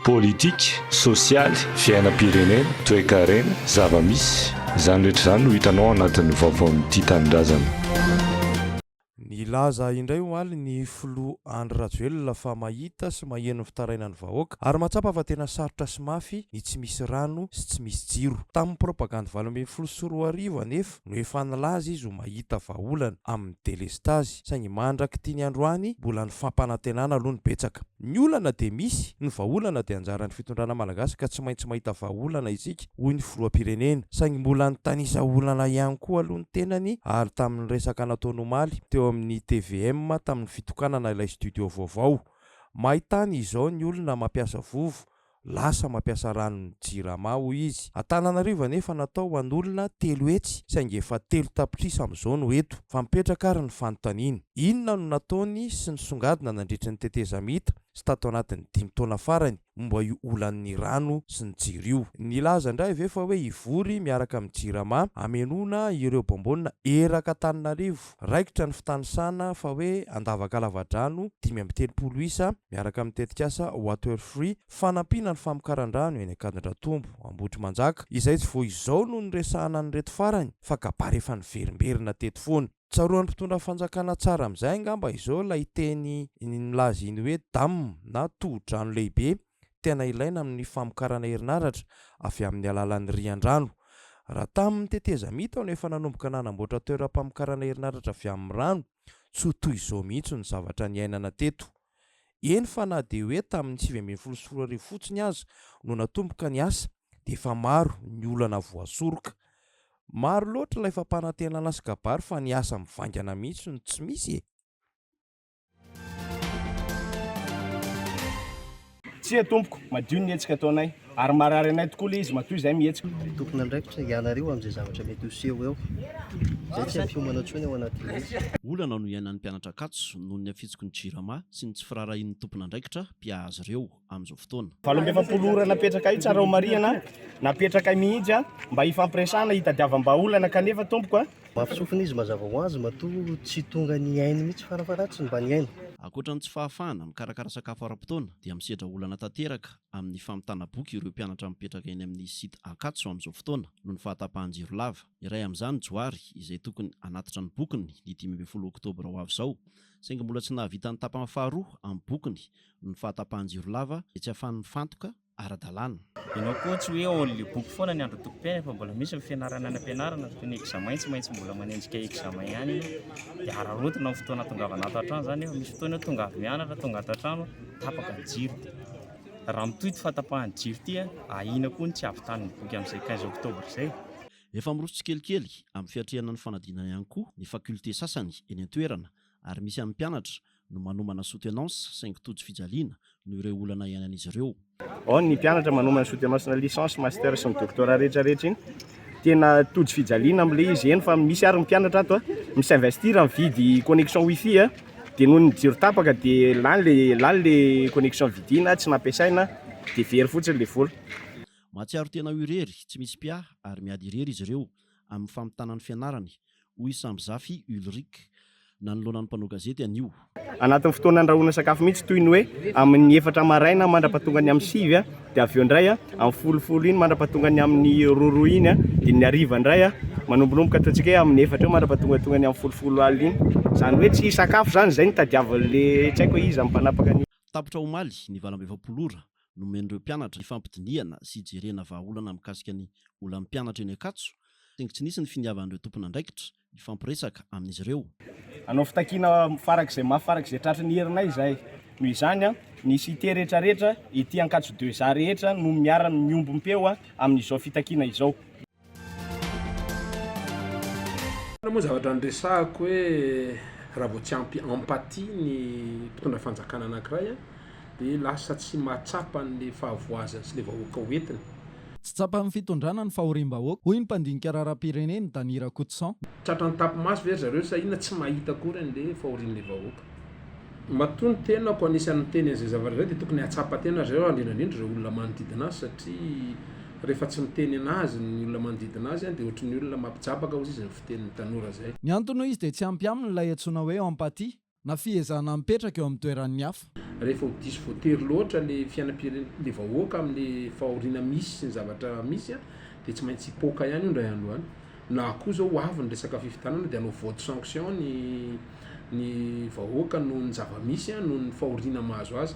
Politika, sosialy, fiainam-pirenena, toekarena, zava-misy. Izany rehetra izany no hitanao ao anatin'ny vaovaon'ny Tia Tanindrazana. Nilaza indray omaly ny filoha Andry Rajoelina fa mahita sy maheno ny fitarainan'ny vahoaka ary mahatsapa fa tena sarotra sy mafy ny tsy misy rano sy tsy misy jiro. Tamin'ny propagandy valo ambin'ny folo sy roa arivo anefa, Microsoft no efa nilaza izy ho mahita vahaolana amin'ny delestazy saingy mandrak'ity ny androany mbola ny fampanantenana aloha no betsaka. Ny olana dia misy, ny vahaolana dia anjaran'ny fitondrana malagasy ka tsy maintsy mahita vahaolana isika hoy ny filohampirenena saingy mbola nitanisa olana ihany koa aloha ny tenany ary tamin'ny resaka nataony omaly teo amin'ny tvm tamin'ny fitokanana ilay studio vaovao. Maitany izao ny olona mampiasa vovo Lasa mampiasa ranon'ny Jirama hoy izy. Antananarivo anefa natao ho an'olona telo hetsy saingy efa telo tapitrisa amin'izao no eto. Fa mipetraka ary ny fanontaniana. Inona no nataony sy nisongadina nandritry ny tetezamita sy tato anatin'ny dimy taona farany momba io olan'ny rano sy ny jiro io? Nilaza indray ve fa hoe hivory miaraka amin'ny Jirama hamenoana ireo bonbonina erak'Antananarivo? Raikitra ny fitanisana fa hoe handavaka lavadrano dimy amby telopolo isa miaraka amin'ny tetikasa Waterfree fanampiana ny famokaran-drano eny Ankadindratombo, Ambohitrimanjaka, izay tsy vao izao no niresahana an'ireto farany fa kabary efa niverimberina teto foana. Tsaroan'ny mpitondra fanjakana tsara amin'izay angamba izao ilay teny nilaza iny hoe dam na tohodrano lehibe tena ilaina amin'ny famokarana herinaratra avy amin'ny alalan'ny rian-drano. Raha tamin'ny tetezamita aho no efa nanomboka nanamboatra toeram-pamokarana herinaratra avy amin'ny rano, tsy ho toy izao mihitsy ny zavatra niainana teto. Eny fa na dia hoe tamin'ny sivy ambin'ny folo sy roa arivo fotsiny aza no natomboka ny asa dia efa maro ny olana voasoroka. Maro loatra ilay fampanantenana sy kabary fa ny asa mivaingana mihitsy no tsy misy e! Tsia tompoko, madio ny hetsika ataonay, ary marary anay tokoa le izy matoa izay mihetsika. Tompon'andraikitra, ianareo amin'izay zavatra mety ho seho eo. Izay tsy ampiomana intsony ao anatin'ny hetsika. Olana no iainan'ny mpianatra Ankatso noho ny hafitsiky ny Jirama sy ny tsy firaharahian'ny tompon'andraikitra mpiaha azy ireo. amin'izao fotoana. Valo amby efapolo ora napetrakay tsara ho marihana, napetrakay mihitsy mba hifampiresahana, hitadiavam-bahaolana kanefa tompoko a! Mafy sofina izy, mazava ho azy matoa tsy tonga nihaino mihitsy, farafaharatiny mba nihaino. Ankoatra ny tsy fahafahana mikarakara sakafo ara-potoana dia misedra olana tanteraka amin'ny famitana boky ireo mpianatra mipetraka eny amin'ny site Ankatso amin'izao fotoana noho ny fahatapahan-jiro lava. Iray amin'izany Johary izay tokony hanatitra ny bokiny ny dimy ambin'ny folo oktobra ho avy izao saingy mbola tsy nahavita ny tapany faharoa amin'ny bokiny ny fahatapahan-jiro lava dia tsy afany mifantoka ara-dalàna. Ianao koa tsy hoe all le boky foana ny andron'ny tompom-piainana fa mbola misy ny fianarana any am-pianarana toy ny examen tsy maintsy mbola manenjika examen ihany ianao dia araraotina amin'ny fotoana atongavana ato an-trano izany nefa misy fotoana hoe tonga avy mianatra tonga ato an-trano tapaka ny jiro dia raha mitohy ity fahatapahan'ny jiro ity ahiana koa ny tsy havitanin'ny boky amin'izay quinze octobre izay. Efa miroso tsikelikely amin'ny fiatrehana ny fanadinana ihany koa ny facultés sasany eny an-toerana ary misy amin'ny mpianatra no manomana soutenance saingy tojo fijaliana noho ireo olana iainan'izy ireo. Ao ny mpianatra manomana soutenance na licence, master sy ny doctorat rehetra rehetra iny tena tojo fijaliana amin'ilay izy eny fa misy ary ny mpianatra ato a s'investir amin'ny vidy connexion wifi a dia noho ny jiro tapaka dia lany le lany le connexion vidina tsy nampiasaina dia very fotsiny ilay vola. Mahatsiaro tena ho irery, tsy misy mpiahy ary miady irery izy ireo amin'ny famitana ny fianarany hoy Sambizafy Ulrick, nanoloana ny mpanao gazety anio. Anatin'ny fotoana andrahoana sakafo mihitsy, toy ny hoe amin'ny efatra maraina mandra-pahatonga ny amin'ny sivy, dia avy eo indray amin'ny folo folo iny mandra-pahatonga ny amin'ny roa roa iny, dia ny hariva indray manombonomboka ataontsika hoe amin'ny efatra eo mandra-pahatongatonga ny amin'ny folo folo alina iny. Izany hoe tsy hisakafo izany izay no tadiavin'ilay tsy haiko hoe iza ny mpanapaka ny. Tapitra omaly ny valam-be efapolo ora nomen'ireo mpianatra hifampidinihana sy hijerena vahaolana mikasika ny olan'ny mpianatra eny Ankatso, saingy tsy nisy ny finiavan'ireo tompon'andraikitra hifampiresaka amin'izy ireo. Hanao fitakiana farak'izay mafy farak'izay tratry ny herinay izahay. Noho izany, ny site rehetra rehetra ety Ankatso Deux A rehetra no miara miombom-peo amin'izao fitakiana izao. Tena moa zavatra niresahako hoe raha vao tsy ampy empathie ny mpitondra fanjakana anankiray de lasa tsy mahatsapa an'le fahavoazany sy le vahoaka ho entiny. Tsy tsapan'ny fitondrana ny fahoriam-bahoaka, hoy ny mpandinika raharaham-pirenena, Danny Rakotoson. Tratran'ny tapi-maso ve ry zareo sa inona tsy mahita akory an'le fahorian'le vahoaka? matoa ny tenako anisan'ny miteny an'izay zavatra izay dia tokony hahatsapa tena ry zareo indrindra indrindra ireo olona manodidina azy satria rehefa tsy miteny an'azy ny olona manodidina azy dia ohatry ny olona mampijabaka hozy izy ny fitenin'ny tanora izay. Ny antony hoy izy dia tsy ampy aminy ilay antsoina hoe empathie na fihezahana mipetraka eo amin'ny toeran'ny hafa. Rehefa ho diso voatery loatra ilay fiainam-pirenena ilay vahoaka amin'ilay fahoriana misy sy ny zavatra misy dia tsy maintsy hipoaka ihany io indray andro any. Na koa zao ho avy ny resaka fifidianana de hanao vote sanction ny ny vahoaka noho ny zava-misy a, noho ny fahoriana mahazo azy.